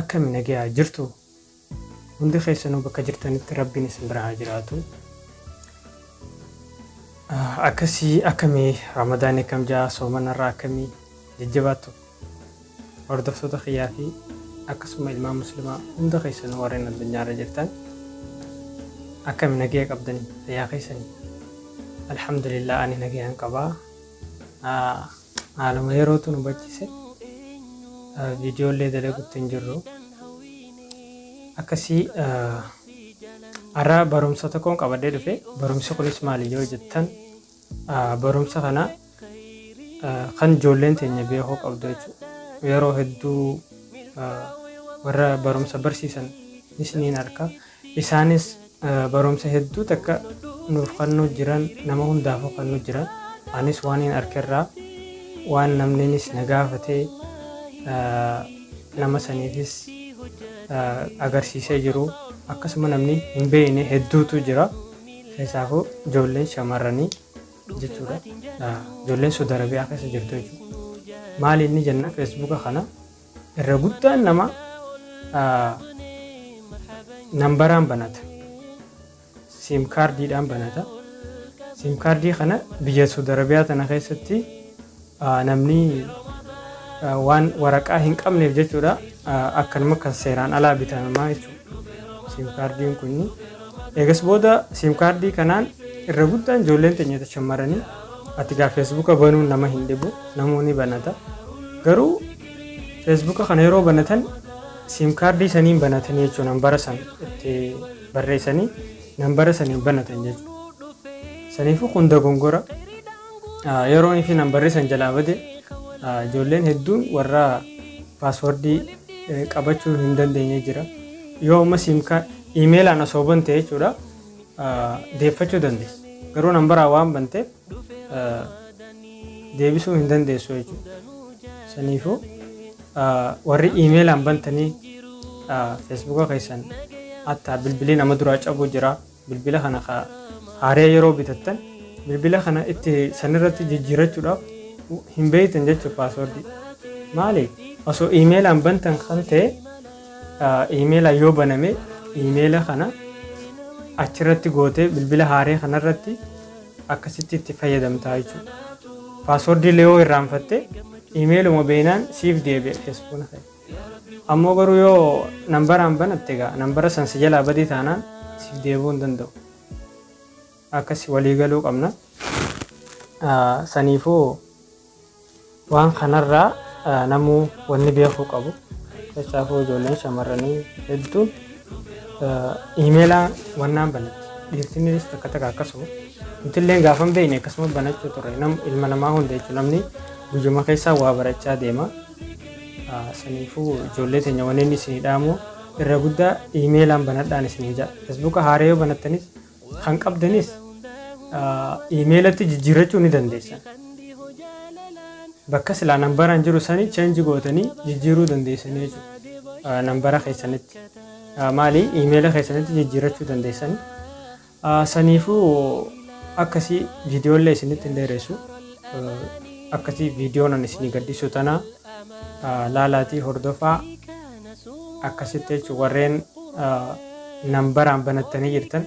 Akkami nagayaa jirtu hundi keessanuu bakka jirtanitti rabbiin isin bira haa jiraatu. Akkasii akkami ramadaan akkam jaa soomanarraa akkami jajjabaattu hordoftoota kiyyaa fi akkasuma ilmaan muslimaa hunda keessanuu warreen addunyaarra jirtan akkami nagaya qabdan fayyaa keessanii alhamdulillah ani nagayaan qabaa. Haaluma yerootu nu bachise viidiyoo illee dalagutti hin jirru. Akkasii har'a barumsa tokkoon qabadee dhufe. Barumsi kunis maali yoo jettan barumsa kana kan ijoolleen teenya beekuu qabdu jechuudha. Yeroo hedduu warra barumsa barsiisan isiniin harka Isaanis barumsa hedduu takka nuuf kannuu jiran nama hundaafuu kannuu jira. Anis waaniin arkerraa waan namniinis na gaafate nama saniifis agarsiisee jiru akkasuma namni hin beeyne hedduutu jira keessaafuu ijoolleen shamarranii jechuudha ijoolleen Saudi Arabiyaa keessa jirtu jechuudha maali inni jenna feesbuuka kana irra guddaan nama nambaraan banata siim kaardiidhaan banata siim kaardii kana biyya Saudi Arabiyaa tana keessatti namni waan waraqaa hin qabneef jechuudha akkanuma kan seeraan alaa bitamaa jechuudha siim kaardiin kun eegas booda siim kaardii kanaan irra guddaan ijoolleen teenya shamarranii Ati gaa feesbuuka banuun nama hin dhibu namuu ni banata garuu feesbuuka kana yeroo banatan siim kaardii saniin banatanii jechuun nambara san itti barreessanii nambara saniin banatan jechuudha. Saniifuu kun dogongora Ah, yeroon fi nambarri san jalaa bade ah, ijoolleen hedduun warra paaswordii eh, qabachuu hin dandeenye jira. Yoo amma siim kaardii iimeelaan osoo bante jechuudha. deeffachuu dandeessa. Garuu nambaraa waan banteef deebisuu hin dandeessu jechuudha. Saniifuu warri iimeelaan bantanii feesbuuka keessan hatta bilbilii nama duraa cabuu jira. Bilbila kana haaree yeroo bitattan bilbila kana itti sanirratti jijjiirachuudhaaf hin beektan jechuudha paaswoordii. Maali osoo iimeelaan bantan kan ta'e Iimeela yoo baname iimeela kana achirratti gootee bilbila haaree kanarratti akkasitti itti fayyadamtaa jechuudha. Paaswordii illee yoo irraanfatte iimeeluma beenaan siif deebi'a feesbuukni kee. Ammoo garuu yoo nambaraan banatte egaa nambara san si jalaa badee taanaan siif deebi'uu hin danda'u. Akkas walii galuu qabna. Saniifuu Waan kanarraa namuu wanni beekuu qabu keessaafuu ijoolleen shamarranii hedduun iimeelaa wannaan banatti dhiirtinnis takka takka akkasuma nutilleen gaafa hin beekne akkasuma banachuu turre nam ilma namaa hunda jechuun namni guyyuma keessaa waa barachaa deema saniifuu ijoollee teenya wanneen isinii dhaamu irra guddaa iimeelaan banadhaan isinii ja'a feesbuuka haaree yoo banattanis kan qabdanis iimeelatti jijjiirrachuu ni dandeessan. Bakka silaa nambaraan jiru sanii change gootanii jijjiiruu dandeessanii jechuudha. Nambara keessanitti. Maali iimeela keessanitti jijjiirrachuu dandeessanii. Saniifuu akkasii viidiyoollee isinitti hin dheeressu. Akkasii viidiyoon ani isinii gadhiisu tanaa laalaatii hordofaa. akkasitti jechuun warreen nambaraan banattanii jirtan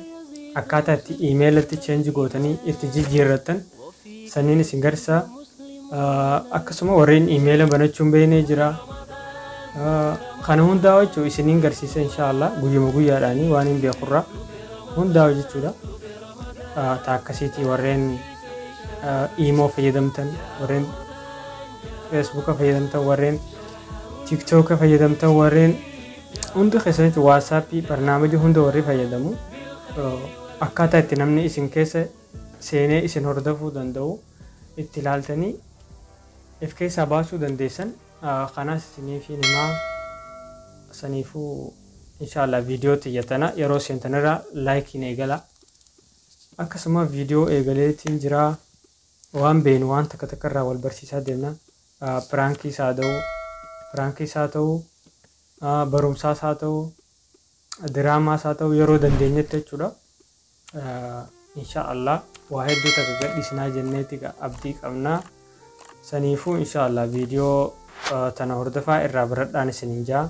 akkaataa itti imeelatti cheenji gootanii itti jijjiirrattan sanniin isin garsiisa akkasuma warreen imeela banachuun beeknee jira kana hundaa jechuun isiniin garsiisa inshaallah guyyuma guyyaadhaanii waan hin beekurraa hundaa jechuudha taa akkasiitii warreen iimoo fayyadamtan warreen feesbuuka fayyadamtan warreen tiktoka fayyadamtan warreen hundi keessanitti waatsaappii barnaamija hunda warri fayyadamu akkaataa itti namni isin keessa seenee isin hordofuu danda'u itti ilaaltanii if keessaa baasuu dandeessan kanaas isiniif himaa saniifuu inshaallah viidiyoo xiyyatana yeroo seentanirraa laayikiin eegala akkasuma viidiyoo eegaleetiin jiraa waan beenu waan takka takka irraa wal barsiisaa deemna piraankiis haa ta'u piraankiis haa ta'u barumsaas haa ta'u diraamaas haa ta'u yeroo dandeenyetti jechuudha. Insha Allah waa hedduu takka gadhiisinaa jenneeti abdii qabna. Saniifuu insha Allah viidiyoo tana hordofaa irraa baradhaan isiniin jaa.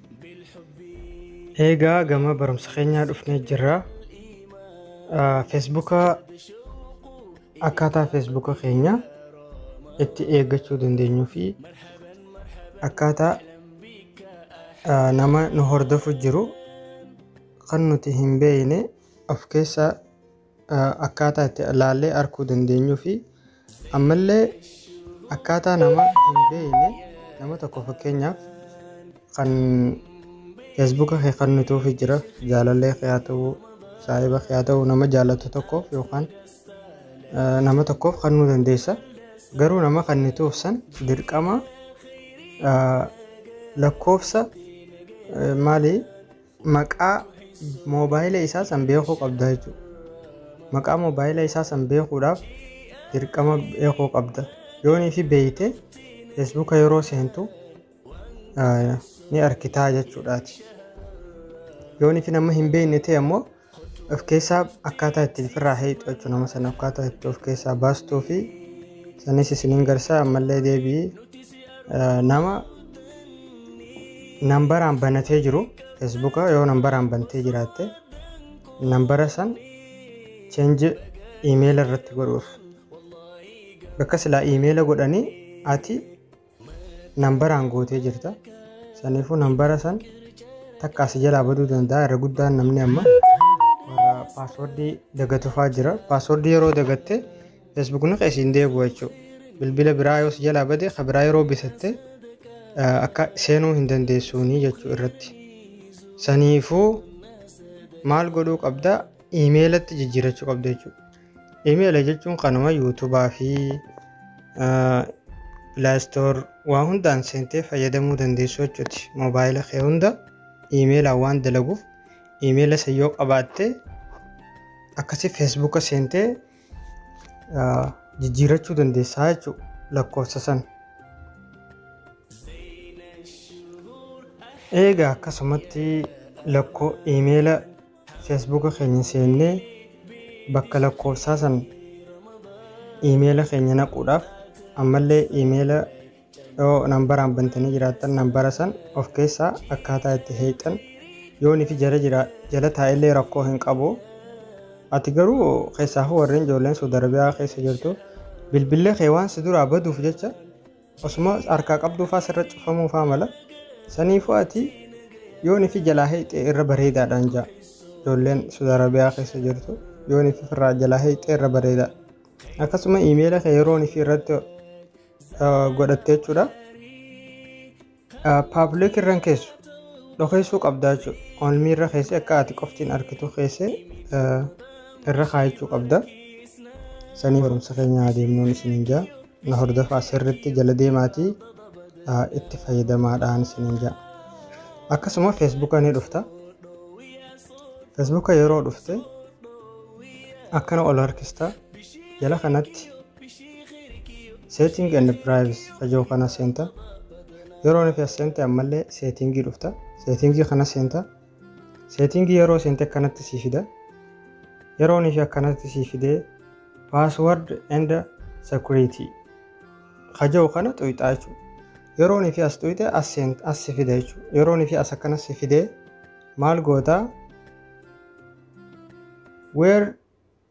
Eegaa gama barumsa keenyaa dhufnee jirra. Feesbuuka akkaataa feesbuuka keenya itti eeggachuu dandeenyuu fi akkaataa ah, nama nu hordofu jiru kan nuti hin beekne of keessaa akkaataa itti laallee arguu dandeenyuu fi ammallee akkaataa nama hin beekne nama tokko fakkeenyaaf kan feesbuuka kee kan nutuufi jira jaalallee kee haa ta'uu saahiba kee haa ta'uu nama jaallattu tokkoof yookaan eh, nama tokkoof kan nu dandeessa garuu nama kan nutuuf san dirqama eh, lakkoofsa eh, maali maqaa moobaayila isaa san beekuu qabda jechuudha. Maqaa moobaayila isaa san beekuudhaaf dirqama beekuu qabda. Yoonii fi beeyte feesbuuka yeroo seentu ni arkitaa jechuudhaati. Yoonii fi nama hin beekne ta'e ammoo of keessaa akkaataa ittiin firraa heeyxu jechuun nama sana akkaataa itti of keessaa baastuu fi sanis isiniin garsaa ammallee deebi'ii eh, nama nambaraan banatee jiru feesbuuka yoo nambaraan bantee jiraatte nambara san cheenji iimeela irratti godhuuf bakka silaa iimeela godhanii ati nambaraan gootee jirta saniifuu nambara san takka asi jalaa baduu danda'a irra guddaan namni amma warra paaswordii dagatufaa jira paaswordii yeroo dagatte feesbuukni kee siin deebi'u jechuudha bilbila biraa yoo si jalaa bade ka biraa yeroo bitatte akka seenuu hin dandeessuunii jechuu irratti saniifuu maal godhuu qabda iimeelatti jijjiirachuu qabda jechuudha Email jechuun kanuma YouTube fi Play Store waa hundaan seentee fayyadamuu dandeessu jechuuti. Moobaayila kee hunda iimeelaan waan dalaguuf iimeela isa yoo qabaatte akkasii feesbuuka seentee jijjiirachuu dandeessaa jechuudha lakkoofsa san. Eegaa akkasumatti lakkoo iimeela Feesbuuka keenya seennee bakka lakkoofsaa san iimeela keenya naquudhaaf ammallee iimeela yoo nambaraan bantanii jiraattan nambara san of keessaa akkaataa itti heeyxan yoon ifi jala jira jala taa'ellee rakkoo hin qabu ati garuu keessaafu warreen ijoolleen Suud Arabiyaa keessa jirtu bilbillee kee waan si duraa baduuf jecha Osuma harkaa qabduu faa sirra cufamuu faa mala. Saniifuu ati yoo nifi jalaa heeyxee irra bareedaadhaan jaa. Ijoolleen Saudi Arabia keessa jirtu yoo nifi firraa jalaa heeyxee irra bareeda. Akkasuma iimeela kee yeroo nifi irratti eh, godhatte jechuudha. Public irra hin keessu. Dhokeessuu qabdaa jechuudha. Only irra keessee akka ati qoftiin argitu keessee irra kaayachuu qabda. Sanii barumsa keenya adeemnuun isiniin jaa. Na hordofaa sirriitti jala deemaatii itti fayyadamaadhaan isiniin jaa. Akkasuma Facebook ni dhufta. Facebook yeroo dhufte akkana ol harkista. Jala kanatti setting and privacy fajoo kana seenta yeroo nuti as seente ammallee seetingii dhufta seetingii kana seenta seetingii yeroo seente akkanatti sii fida yeroo nuti akkanatti sii fidee password and security fajoo kana xuyxaa jechuudha yeroo nuti as xuyxe as seenta as si fida jechuudha yeroo nuti as akkana si fidee maal gootaa where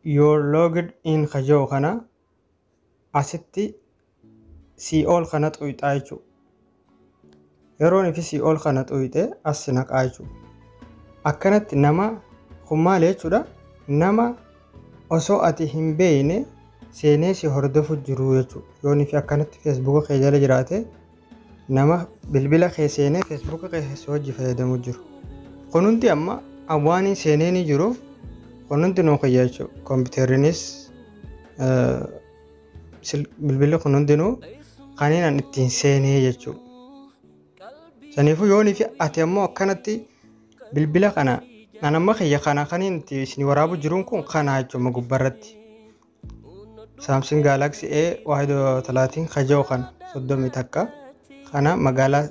You're logged in ka jau kana asitti sii ol kana xuyxaa jechu. Yeroon ifi sii ol kana xuyxe as si naqaa jechu. Akkanatti nama kun maali jechuudha nama osoo ati hin beeyne seenee si hordofu jiru jechu. Yoon ifi akkanatti feesbuuka kee jala jiraate nama bilbila kee seenee feesbuuka kee si wajji fayyadamu jiru kun hundi amma awwaaniin seenee ni jiru kun hundi nuu kiyya jechuudha kompiiterinis bilbilli kun hundinuu kaniin an ittiin seenee jechuudha saniifuu yoonii fi ati ammoo akkanatti bilbila kana an amma kiyya kana kaniin itti isin waraabuu jiruun kun kanaa jechuudha gubbarratti Saamsing Galaxy A waahidoo talaatiin kajoo kan soddomii takka kana magaalaa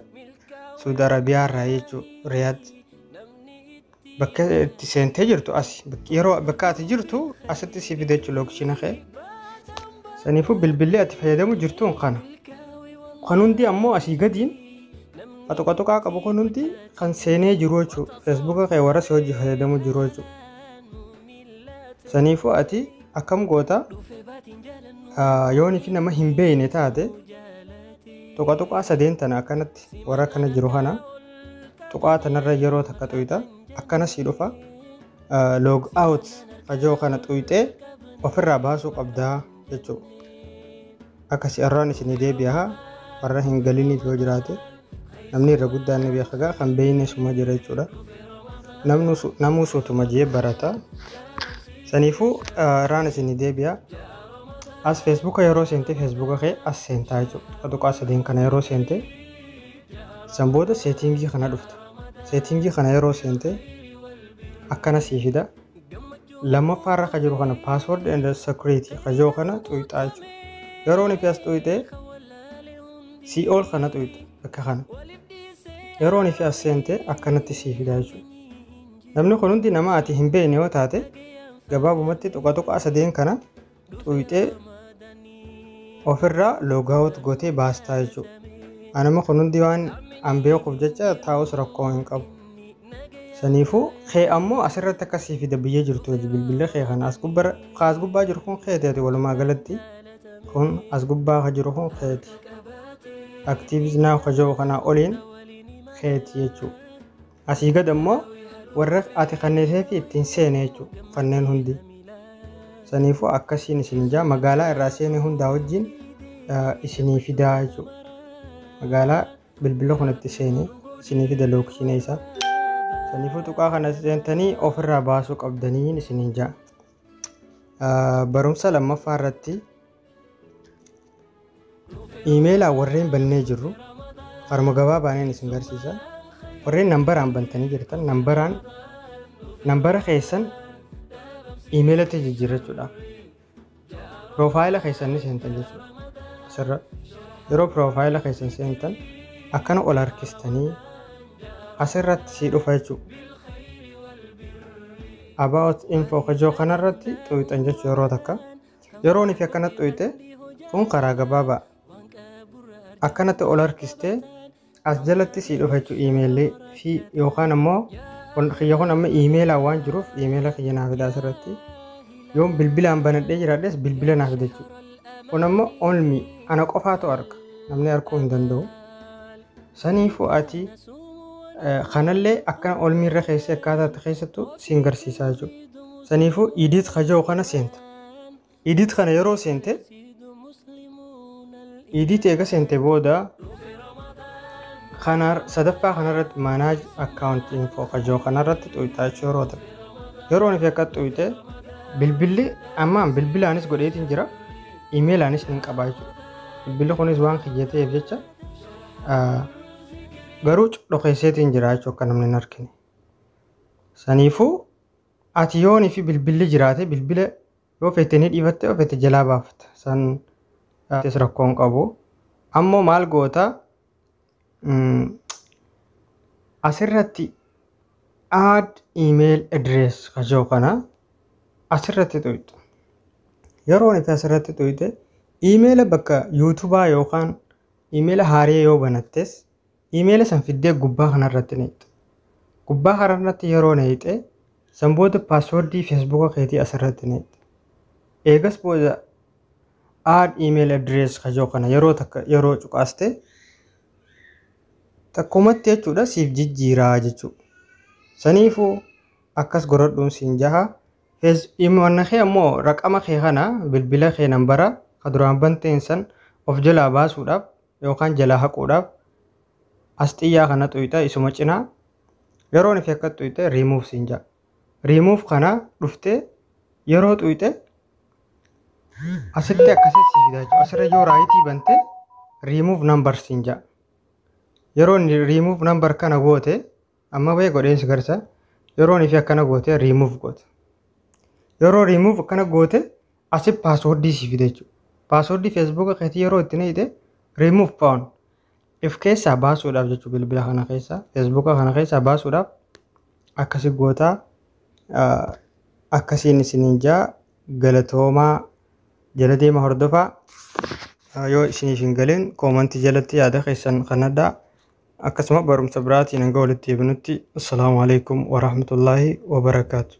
Suudi Arabiyaa irraa jechuu Riyaad bakka itti seentee jirtu asi yeroo bakka ati jirtu asitti si fida jechuu lookishiina kee saniifuu bilbilli ati fayyadamu jirtuun kana kan hundi ammoo asii gadiin qaxuqaxuqaa qabu kun hundi kan seenee jiru jechuu feesbuuka kee warra si hojii fayyadamu jiru jechuu Saniifuu ati akkam goota yoo nifi nama hin beeyne taate tuqa tuqaa sadeen tana akkanatti warra kana jiru kana tuqaa tanarra yeroo takka tuyxa akkana sii dhufa log out fajoo kana tuyxee ofirraa baasuu qabdaa jechuudha. Akkasi arraan isinii deebi'aha warra hin galiniif yoo jiraate namni irra guddaan ni beeka gaa kan beeyne suma jira jechuudha. Namnu su- Namuu suutuma jee barata. Saniifuu ah, irraan isinii deebi'a. As feesbuuka yeroo seente feesbuuka kee as seentaa jechuudha. Tuqaa sadeen kana yeroo seente san booda seetiingii kana dhufta. Seetiingii kana yeroo seente akkana sii fida. lammaffaa irra ka jiru kana password and security ka yoo kana xuyxaa jechuudha yeroo nifi as xuyxe si ol kana xuyxa akka kana yeroo nifi as seente akkanatti sii fida jechuudha namni kun hundi nama ati hin beekne yoo taate gabaabumatti tuqa tuqaa sadeen kana xuuyxee ofirraa logout gotee baastaa jechuu anama kun hundi waan an beekuuf jecha taa'us rakkoo hin qabu saniifuu kee ammoo asirratti akka sii fida biyya jirtu hojii bilbila kee kana as gubbara ka as gubbaa jiru kun keeti ati walumaa galatti kun as gubbaa ka jiru kun keeti activities now ka jiru kanaa oliin keeti jechuu Asii gad ammoo warra ati kanniseetii ittiin seene jechuudha. Kanneen hundi. Saniifuu akkasiin isin ijaa magaalaa irraa seene hundaa wajjin isinii fidaa jechuudha. Magaalaa bilbila kun itti seene isinii fida lookshiina isaa. Saniifuu tuqaa kana seentanii ofirraa baasuu qabdanii isin ijaa. Barumsa lammaffaa irratti Iimeelaan warreen bannee jirru haruma gabaabaaneen isin garsiisa. Warreen nambaraan bantanii jirtan nambaraan nambara keessan iimeelatti jijjiirrachuudhaaf piroofaayila keessan ni seentan jechuudha. Asirra yeroo piroofaayila keessan seentan akkana ol harkistanii asirratti sii dhufa jechuudha. About info kajoo kanarratti xuuxan jechuu yeroo takka. Yeroo nifi akkanatti dhoyte kun karaa gabaabaa akkanatti ol harkistee as jalatti sii dhufa jechuun iimeelli fi yookaan ammoo kiyya kun amma iimeelaan waan jiruuf iimeela kiyya naa fidaa asirratti yoon bilbilaan banadhee jiraadhes bilbila naa fida jechuudha. Kun ammoo only ana qofaatu arga namni arguu hin danda'u. Saniifu ati kanallee akkana olmii irra keessee akkaataa itti keessattu siin garsiisaa jechuudha. Saniifu idit kaja'u kana seenta. Idit kana yeroo seente idit eega seente booda kana sadaffaa kanarratti manage account info kaja'u kanarratti xuyxaa jechuu yeroo ta'e. Yeroo nuti akka xuyxe bilbilli ammaan bilbilaanis godheetiin jira. Imeelaanis ni qabaa jechuudha. Bilbilli kunis waan kiyyateef jecha Ah, garuu dhokeesseetiin jira jechuu akka namni hin argine saniifuu ati yoonii fi bilbilli jiraate bilbila yoo feete ni dhiifatte yoo feete jalaa baafta san ah, tis rakkoo hin qabu ammoo maal goota mm, asirratti add email address kajoo kana asirratti tuqxu. Yeroo nuti asirratti tuqxe iimeela bakka yuutubaa yookaan iimeela haaree yoo banattes iimeela san fiddee gubbaa kanarratti neexxu. Gubbaa kanarratti yeroo neexxe san booda paaswordii feesbuuka keetii asirratti neexxu. Eegas booda aad iimeela adirees kajoo kana yeroo takka yeroo cuqaaste takkumatti jechuudha siif jijjiiraa jechuudha. Saniifuu akkas goradhuun siin jaha. Fez imo wanna kee ammoo raqama kee kana bilbila kee nambara ka duraan banteen san of jalaa baasuudhaaf yookaan jalaa haquudhaaf as xiyyaa kana xuyxa isuma cinaa yeroon fi akka xuyxe remove siin jaha. Remove kana dhuftee yeroo xuyxe asitti akkasitti si fidaa jechuudha. Asirra yoo raayitii bante remove number siin jaha. Yeroo remove number kana goote Amma bee godheen si garsa yeroon fi akkana goote remove goote. Yeroo remove akkana goote asi passwordii si fide jechuudha. Passwordii Facebook keetii yeroo itti neeyite remove phone if keessaa baasuudhaaf jechuudha bilbila kana keessaa Facebook kana keessaa baasuudhaaf akkasi gootaa akkasiin isiniin jaa galatoomaa jala deema hordofaa yoo isiniif hin galin koomantii jalatti yaada keessan kan addaa Akkasuma barumsa biraatiin hanga walitti deebinutti assalaamu alaikum warahmatullaahi wabarakaatu.